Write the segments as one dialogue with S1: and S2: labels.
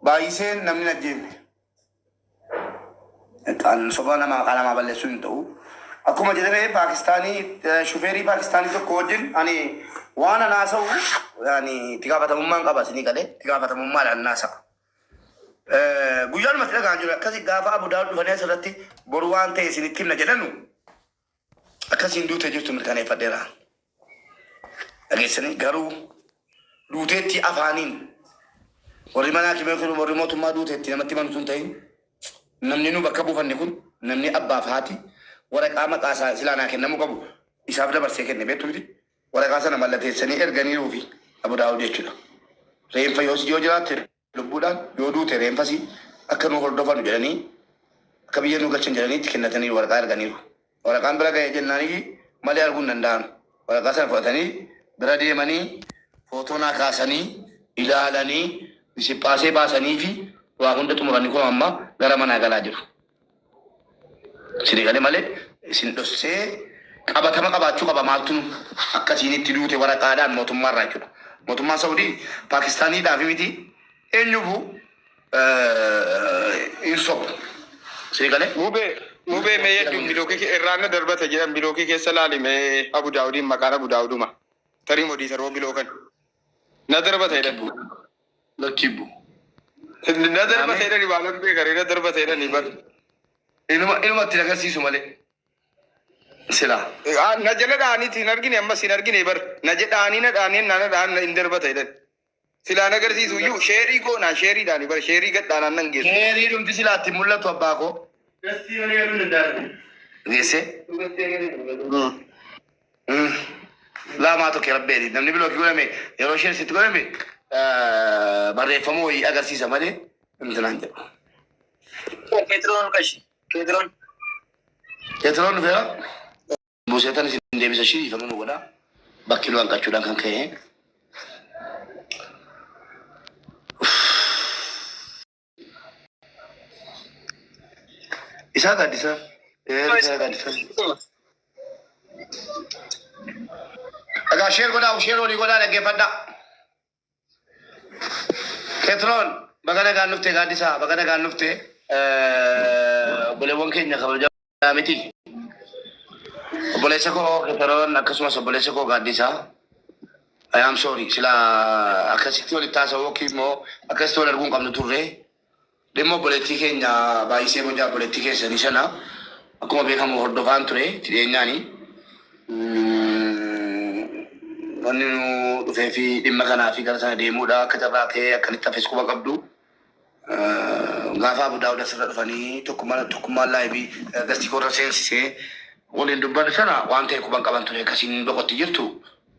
S1: Baay'iseen namni hin ajjeefne. Kan sobaa nama maqaa namaa balleessuu hin ta'u. Akkuma jedhame Paakistaanii shufeerii Paakistaanii tokko wajjin ani waan an haasa'u ani itti gaafatamummaan qaba isinii galee itti gaafatamummaadhaan nan haasa'a. Eh, Guyyaan matti dhagaan jiru akkasi gaafa Abu Daawud dhufanii asirratti boru waan ta'e isinitti himna jedhanu Akka isiin duutee jirtu mirkaneeffadheera. Dhageessanii garuu duuteetti afaaniin warri mana haakimee kun warri mootummaa duuteetti namatti himan utuu hin ta'in namni nu bakka buufanne kun namni abbaaf haati waraqaa maqaa isaa silaa naa kennamuu qabu isaaf dabarsee kenne beektu miti waraqaa sana mallateessanii erganiiruufi Abu Daawud jechuudha. Reenfa yoos yoo jiraatte Lubbuudhaan yoo duute reenfasii akka nu hordofanu jedhanii akka biyya nu galchan jedhanii itti kennataniiru waraqaa erganiiru. Waraqaan bira gahee jennaaniyyi malee arguu hin danda'an. Waraqaa sana fudhatanii bira deemanii footoo naa kaasanii ilaalanii misiphaasee baasaniifi waa hunda xumuranii kunoo amma gara manaa galaa jiru. Sini gale male isin dhossee qabatama qabaachuu qaba maaltu nu akka siinitti duute waraqaadhaan mootummaa irraa jechuudha. Mootummaan Saudii Paakistaaniidhaaf miti eenyufu hin sobu. Sini gale Mube mube me
S2: yaddu biloki ke irraanna darbata jedhan biloki keessa laali me abu daawudiin maqaan abu daawuduma tarii modii taroo biloo kan Na darba ta'e dhan. Lakkii bu. Na darba ta'e dhan ibaa nan beekare na darba ta'e dhan ibar. Inuma
S1: inuma itti agarsiisu malee. Silaa. Na jala
S2: dhaaniiti hin argine ammas hin argine ibar. Na jedhaanii na dhaanii na na dhaan hin darba ta'e dhan. Silaa na agarsiisu iyyuu sheerii goonaa sheerii dhaan ibar sheerii gad dhaanaan nan geessu. Sheerii dhumti silaa itti
S1: mul'atu abbaa koo. Geessee. Laa maa tokke rabbeeni namni bilookii godhame yeroo isheen sitti godhame barreeffama wayii agarsiisa malee namti naan jedhu.
S3: Keetiroon qashi. Keetiroon. Keetiroon dhufeera.
S1: Buuseetan isin deebisa ishii dhiifama nu godha. Bakki nu hanqachuudhaan kan ka'e. Isaa gaaddisa. Isaa gaaddisa. Egaa sheer godhaa, sheer olii godhaa dhaggeeffadhaa. Ketroon baga nagaan dhufte gaaddisaa baga nagaan dhufte obboleewwan keenya kabajamoo. Yaa miti. Obboleessa koo Keteroon akkasumas obboleessa koo Gaaddisaa. I am sorry. Sila akkasitti walitti haasa'uu yookiin immoo akkasitti wal arguu hin qabnu turre. Dhimma obboleettii keenya baay'isee bocaa obboleettii keessanii sana akkuma beekamu hordofaan ture itti dhiyeenyaani. Wanni nu dhufee fi dhimma kanaa fi gara sana deemuudha. Akka carraa ta'ee akkanitti hafes quba qabdu. Gaafa Abu Daawud asirra dhufanii tokkummaan tokkummaan laayibii gastii koorra seensisee waliin dubbannu sana waan ta'e quban qaban ture akkasiin boqotti jirtu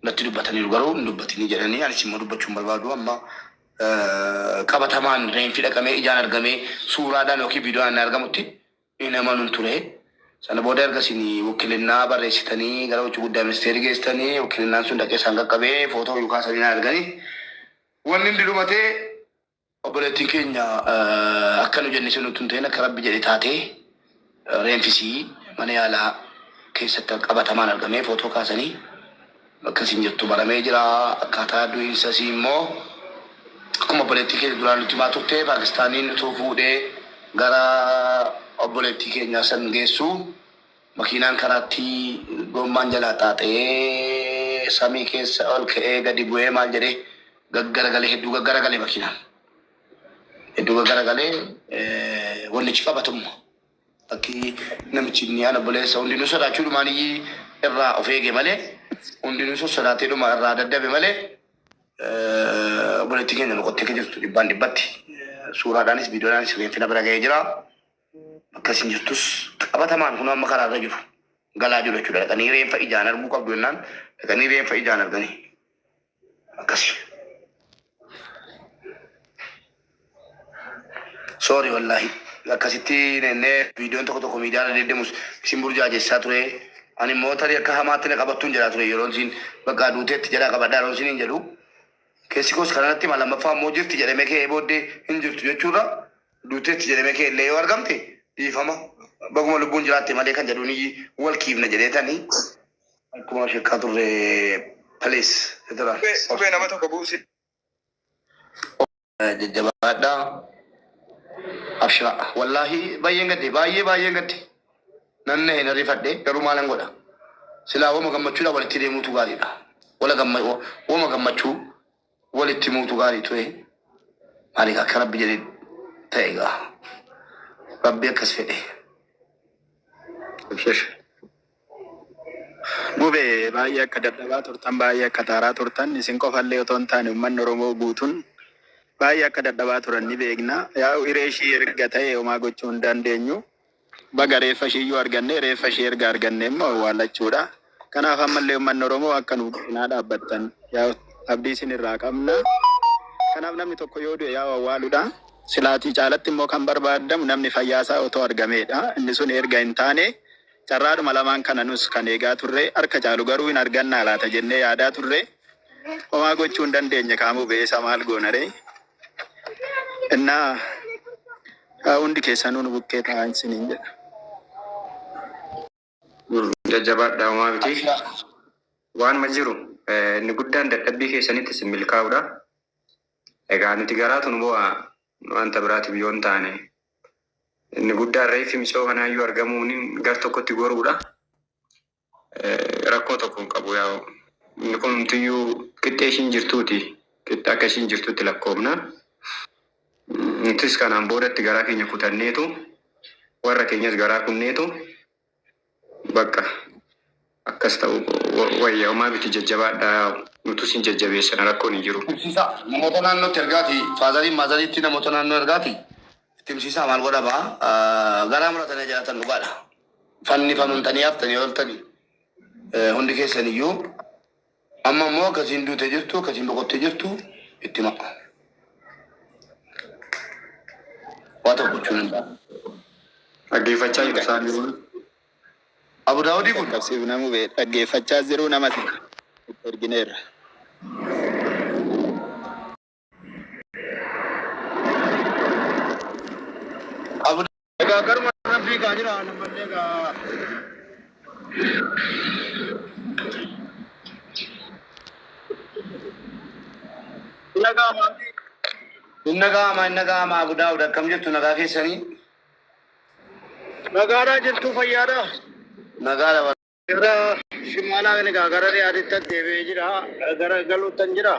S1: natti dubbataniiru garuu hin dubbatinii jedhanii anis immoo dubbachuu hin barbaadu amma qabatamaan reenfi dhaqamee ijaan argamee suuraadhaan yookiin viidiyoodhaan hin argamutti hin amanuun ture. Sana booda ergasiin wakkilinnaa barreessitanii gara hojii guddaa ministeerii geessitanii wakkilinnaan sun dhaqee isaan qaqqabee footoo yookaan sanii na arganii Wanni hundi dhumatee obboleettiin keenya akka nu jenne sun utuu hin ta'in akka rabbi jedhe taatee reenfisii mana yaalaa keessatti qabatamaan argamee footoo kaasanii bakka isin jirtu baramee jira akkaataa du'iinsa isii immoo akkuma obboleettii keenya duraan nutti himaa turte paakistaaniin utuu fuudhee gara obboleettii keenyaa san geessuu Makiinaan karaatti goommaan jalaa xaaxa'ee samii keessa ol ka'ee gadi bu'ee maal jedhee gaggaragalee hedduu gaggaragalee makiinaan. Hedduu gaggaragalee wannichi qabatumma. Bakki namichi inni ana buleessa hundinuu sodaachuu dhumaan iyyii irraa of eege malee hundinuu sossodaatee dhuma irraa daddabe malee obboleettiin keenya boqottee akka jirtu dhibbaan dhibbatti suuraadhaanis viidiyoodhaanis reenfina bira ga'ee jira. akkasiin jirtus qabatamaan kun amma karaarra jiru galaa jiru jechuudha. Dhaqanii reenfa ijaan arguu qabdu jennaan dhaqanii reenfa ijaan arganii akkasi. Soori wallaahi akkasitti nennee viidiyoon tokko tokko miidiyaa irra deddeemus isin burjaajessaa ture. Ani immoo tarii akka hamaatti na qabattuun jedhaa ture yeroon isin bakka duuteetti jedhaa qabadhaa yeroon isin hin jedhu. Keessi koos kanarratti ma lammaffaa immoo jirti jedhamee ka'ee booddee hin jirtu jechuurra duuteetti jedhamee kee illee yoo argamte dhiifama baguma lubbuun jiraatte malee kan jedhuun wal kiifna jedheetani akkuma shekkaa turre palees jedhera.
S2: Qubee nama tokko buusi. Jajjabaadhaa.
S1: Abshira. Wallaahi baay'een gadde baay'ee baay'een gadde. Nanna hin rifadhe garuu maalan godha. Silaa wama gammachuudha walitti deemuutu gaariidha. Wala gamma wama gammachuu Walitti himuutu gaarii ture. Maal egaa akka rabbi jedhe ta'e egaa. Rabbi akkas fedhe. Abshir.
S4: Mube baay'ee akka dadhabaa turtan baay'ee akka taaraa turtan isin qofallee otoo hin taane uummanni Oromoo guutuun baay'ee akka dadhabaa turan ni beekna. Yaa'u hiree ishii erga ta'e homaa gochuu hin dandeenyu. Baga reeffa ishii iyyuu argannee reeffa ishii erga argannee immoo awwaallachuudha. Kanaaf ammallee uummanni Oromoo akka nu cinaa dhaabbattan abdii isin irraa qabna. Kanaaf namni tokko yoo du'e yaa'u awwaaluudha. Silaatii caalatti immoo kan barbaadamu namni fayyaa isaa otoo argameedha. Inni sun erga hin taane carraadhuma lamaan kana nus kan eegaa turre. Harka caalu garuu hin argannaa laata jennee yaadaa turre. Homaa gochuu hin dandeenye kaa mube eessa maal goonaree? Innaa haa hundi keessanuu nu bukkee taa'aan isiniin jedha.
S5: Jajjabaadhaa homaa miti. Waanuma jiru inni guddaan dadhabbii keessanitti isin milkaa'uudha. Egaa nuti garaatu nu boo'a wanta biraatiif yoo hin taane inni guddaan reeffi misoo kanaayyuu argamuun gar tokkotti goruudha. Rakkoo tokko hin qabu yaa inni kun hundumtiyyuu qixxee ishiin jirtuuti qixxee akka ishiin jirtutti lakkoofna nutis kanaan boodatti garaa keenya kutanneetu warra keenyas garaa kunneetu bakka akkas ta'u wayya homaa biti jajjabaadha nutus hin jajjabeessina rakkoon hin jiru. Himsiisaa namoota
S1: naannootti ergaati faazariin maazariitti namoota naannoo ergaati itti himsiisaa maal godhama garaa muratanii jiraatan dhugaadha. fannifamntanii haftanii ooltani hundi keessan iyyuu amma immoo akkasiin duute jirtu akkasiin boqotte jirtu itti ma'a. Waa tokko gochuun hin ta'a. Dhaggeeffachaa
S5: jiru isaan jiru.
S1: Abu Daawudii kun Qaqqabsiif namuu bee
S4: dhaggeeffachaa jiru nama ergineerra.
S1: Egaa garuma irraan fiigaa jira nammallee egaa. Inna gaamaa fi Inna gaamaa inna gaamaa Abu Daawud akkam jirtu nagaa keessanii?
S2: nagaadhaa jirtuu fayyaadhaa? Nagaadha
S1: Gara
S2: shimaalaa kan egaa gara dhiyaatittan deebi'ee jira. Gara galuuttan jira.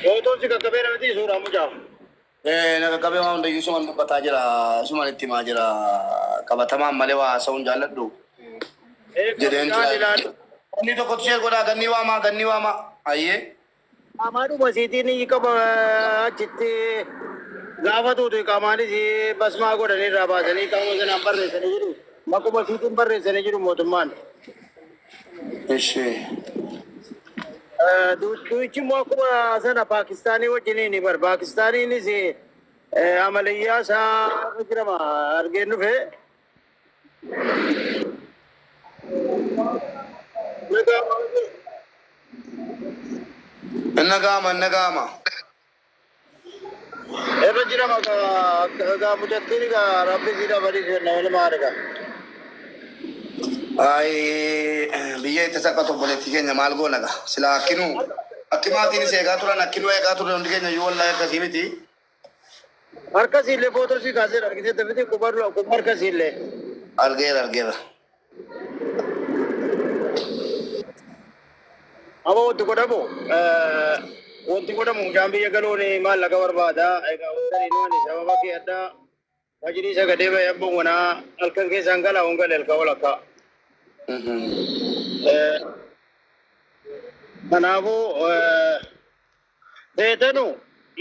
S2: Gootoon si qaqqabeera miti suuraa mucaa. Eh, na
S1: qaqqabee waan hundayyuu suman dubbataa jira suman itti himaa jira qabatamaan malee waa haasa'uun jaalladhu Eeguu jedheen mucaan ture. ilaali. Inni tokkotu ishee godhaa gannii waamaa gannii waamaa ayyee. Qaamaadhuma
S2: isiitiin ni qaba achitti gaafa duutu iqaamaan isii basmaa godhanii irraa baasanii qaama sanaan barreessanii jiru. Maquma isiitiin barreessanii jiru mootummaan.
S1: Ishee.
S2: Duuchi immoo akkuma sana Paakistaanii wajjiniin bar Paakistaaniinis amalayyaa isaa irra jirama argeen dhufee.
S1: Inna gaama inna gaama.
S2: Irra jira maka egaa mucattiin egaa rabbi si dabalii kenna walumaa arga. Ay
S1: biyya itti saphatu obboleettii keenya maal goona gaa silaa akkinuu akki maatiin si eegaa turan akkinuu eegaa turre hundi keenya iyyuu wallaahi akkasii miti. Harka siillee
S2: footoo sii kaasee argitee dafitii qubaa dura qubaa harka siillee. Argeera
S1: argeera.
S2: Aba wanti godhamu wanti godhamu mucaan biyya galoon maallaqa barbaada. Egaa wanti inni waan sababa kee addaa Majliisa gadee bahee abboon wanaa halkan keessaan galaa hon galee halkan walakkaa. Eh, Kanaafuu eh, feetanu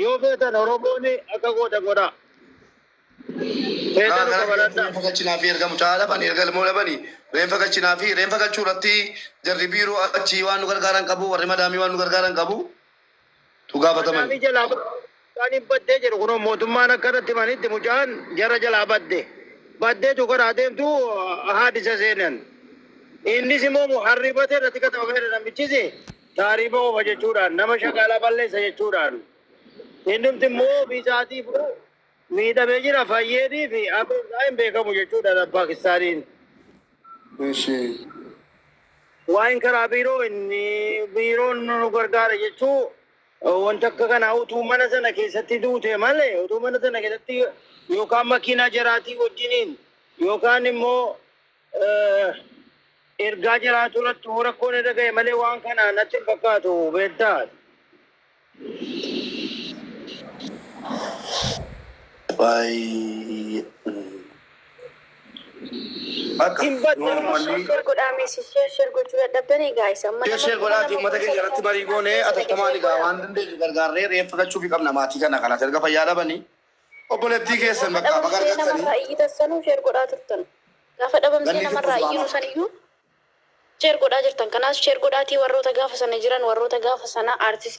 S2: yoo feetan Oromoon akka goota godha. Feetanu kabaladha. Reenfa galchinaa fi ergamu
S1: caala bani erga ilmoo labani reenfa galchinaa fi reenfa galchuu irratti jarri biiroo achi waan nu gargaaran qabu warri madaamii waan nu gargaaran qabu tu gaafataman. Maadaamii jalaa mucaan
S2: hin baddee jedhu kunoo mootummaan akka irratti himanitti mucaan jara jalaa badde. Baddee tu karaa deemtu haadisa seenan. Innis immoo muharribate irratti katabamee namichis taariiba oofa jechuudhaan nama shakaalaa balleessa jechuudhaan. Innumti immoo ofiisaatii Miidhame jira fayyeedii fi abbeen isaa hin beekamu jechuudhaan Paakistaaniin. Eshi. Waa'een karaa biiroo inni biiroon nu gargaara jechuu wanta akka kanaa utuu mana sana keessatti duute malee utuu mana sana keessatti yookaan makiinaa jaraatii wajjiniin yookaan immoo ergaa jiraatu irratti immoo rakkoon irra ga'e malee waan kana natti hin fakkaatu beektaa. Baay'ee.
S6: Akka Hin badne. normally Share godhaa meesii share share gochuu dadhabdan egaa isa amma Ishee ishee godhaati uummata keenya
S1: irratti marii goonee atattamaan egaa waan dandeenyu gargaarree reeffa galchuufi qabna maatii kana kanas erga fayyaa dhabanii Obboleettii Ati keessan gaafa bakkaa baga dhabamtee argattanii. namarraa iyyitas sanuu
S6: sheer godhaa turtan. Gaafa dhabamtee Ganni namarraa fixuuf iyyinu waama. saniyyuu sheer godhaa jirtan. Kanaas sheer godhaatii warroota gaafa sana jiran, warroota gaafa sana artistii.